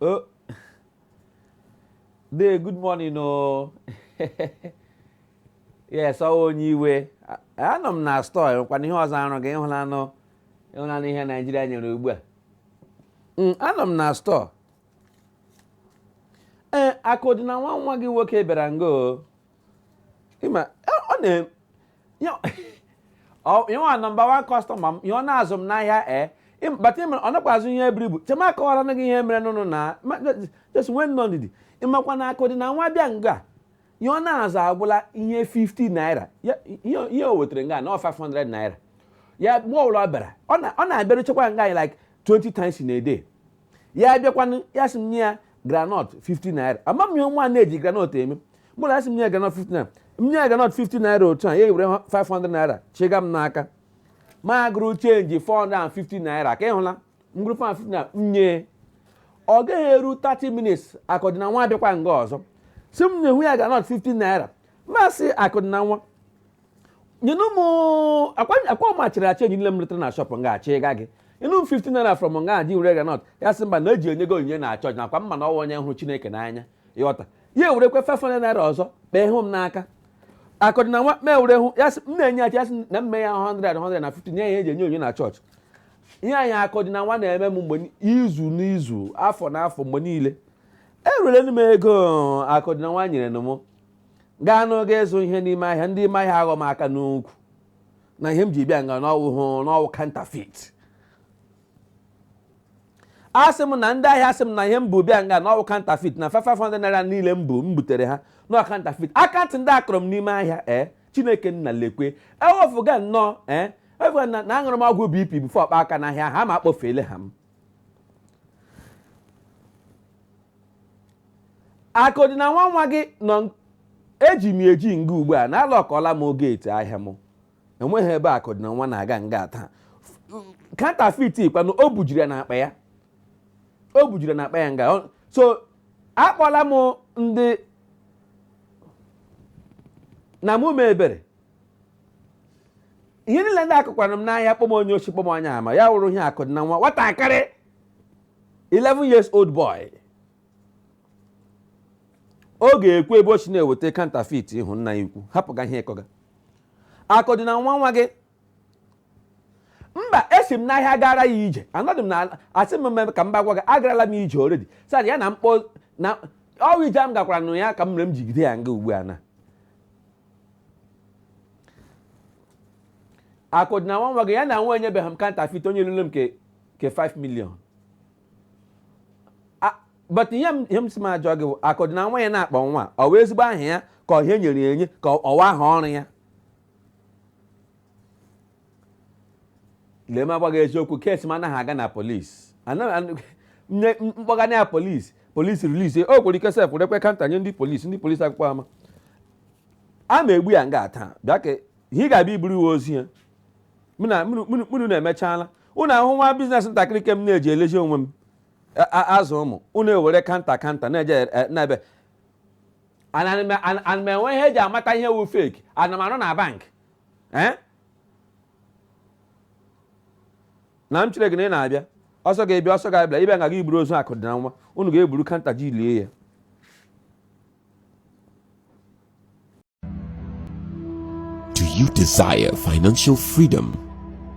Oh. Dee, good morning o. Yes, ọ wụ Onyeiwe. A- Anọ m na store enwekwana ihe ọzọ arụ gị ịhụlanụ ịhụlanụ ihe Naijiria nyere ugbu a. Mm, Anọ m na store. Ee, Akụdịnanwa nwa gị nwoke bịara nga o. ịma ọ na ọ wụ number one customer m ihe ọ na-azụ m n'ahịa ee but ịmara ọ nakwa azụ ihe buru ibu chee m akọwaranụ gị ihe mere n'ụnụ na just nwee nnọọ ndidi ịmakwa na Akụdịnanwa bịa nga ihe ọ na-azụ agwụla ihe 50 naira ihe o wetara nga na 500 naira ya mgbe ọbụla ọ bịara ọ na-abịaruchakwa nga like 20 times in a day ya abịakwanụ ya sị m nye ya granọt 50 naira ama m ihe nwa na-eji granọt eme ya asị m nye ya granọt 50 naira m nye ya granọt 50 naira otu a ya ewere 500 naira chịga m n'aka m agụrụ chenji 450 naira ka ịhụla m gụrụ 450 naira m nye ọ gaghị eru 30 minutes Akụdịnanwa abịakwa nga ọzọ sị m nyehụ ya granọt 50 naira m asị Akụdịnanwa nyenụ m ọ kwa ọ kwa m achịrị chenji niile m letara na shọpụ nga chịga gị nyenụ m 50 naira from nga gị were granọt ya sị mba na eji enye gị onyinye na chọọchị na ọ kwa m ma na ọ wụ onye hụrụ chineke n'anya ịghọta ya ewerekwa 500 naira ọzọ kpee hụ m n'aka Akụdịnanwa kpee were hụ ya sị m nye ya chenji ya sị m mee ya 100 100 na 50 nye ya eji enye onyinye na chọọchị ihe anyị Akụdịnanwa na-eme m mgbe ni- izu n'izu afọ na afọ mgbe niile ewerela m ego Akụdịnanwa nyere m gaa n'oge ịzụ ihe n'ime ahịa ndị ime ahịa aghọ m aka n'ukwu na ihe m ji bịa nga na ọ wụ na ọ wụ counterfeit asị m na ndị ahịa asị m na ihe m bu bịa nga na ọ wụ counterfeit na 500 naira niile m bu m butere ha na ọ counterfeit aka ntị ndị a kụrụ m n'ime ahịa ee chineke nna lekwe ewefuga nnọọ ee ewefuga na na aṅụrụ m ọgwụ BP before ọkpa aka n'ahịa ha ma akpọfeele ha m Akụdịnanwa nwa gị nọ eji m eji nga ugbu a na alọkụọla m gate ahịa m enweghị ebe Akụdịnanwa na-aga nga taa counterfeit kwanụ o bujiri ya n'akpa ya o bujiri ya n'akpa ya nga Ọ- so akpọla m ndị na mụ mee ebere ihe niile ndị a kọkwara m n'ahịa kpọọ m onye oshi kpọọ m onye ama ya wụrụ ihe Akụdịnanwa nwatakịrị 11 years old boy ọ ga-ekwu ebe o si na-eweta counterfeit ịhụ nna anyị ukwu hapụga ihe ị kọga Akụdịnanwa nwa gị mba esi m n'ahịa gara ya ije anọdụ m na asị m mmemme ka m bịa gwa gị agarala m ije already sị ya na mkpọ na ọ wụ ije m gakwara nụ ya ka m mere m jigide ya nga ugbu a na Akụdịnanwa nwa gị ya na nwa enyebeghị m counterfeit onye lụrụ m ke ke 5 million A- but ihe m ihe m si m ajụọ gị bụ Akụdịnanwa ya na-akpọ nwa ọ wụ ezigbo aha ya ka ọ ihe e nyere ya enye ka ọ- ọ wụ aha ọrụ ya lee m agwa gị eziokwu kesi m anaghị aga na polisi nye m kpọga ya na polisi polisi release o nwere ike sef rekwe counter nye ndị polisi ndị polisi akpụkpọ ama a ma egbu ya nga taa bịa ka ihe ị ga-abịa iburu wụ ozu ya mụ na- mụnụ- mụnụ mụnụ na-emechala ụnụ ahụ nwa business ntakịrị ke m na-eji elezi onwe m a- a- azụ ụmụ ụnụ ewere counter counter na-eje e- n'ebe ana m enwe ihe e ji amata ihe wụ fake ana m arụ na bank ee na m chere gị na ị na-abịa ọsọ ga-abịa ọsọ ga-abịa ị bịa nga gị iburu ozu Akụdịnanwa unu ga-eburu counter ji lie ya Do you desire financial freedom?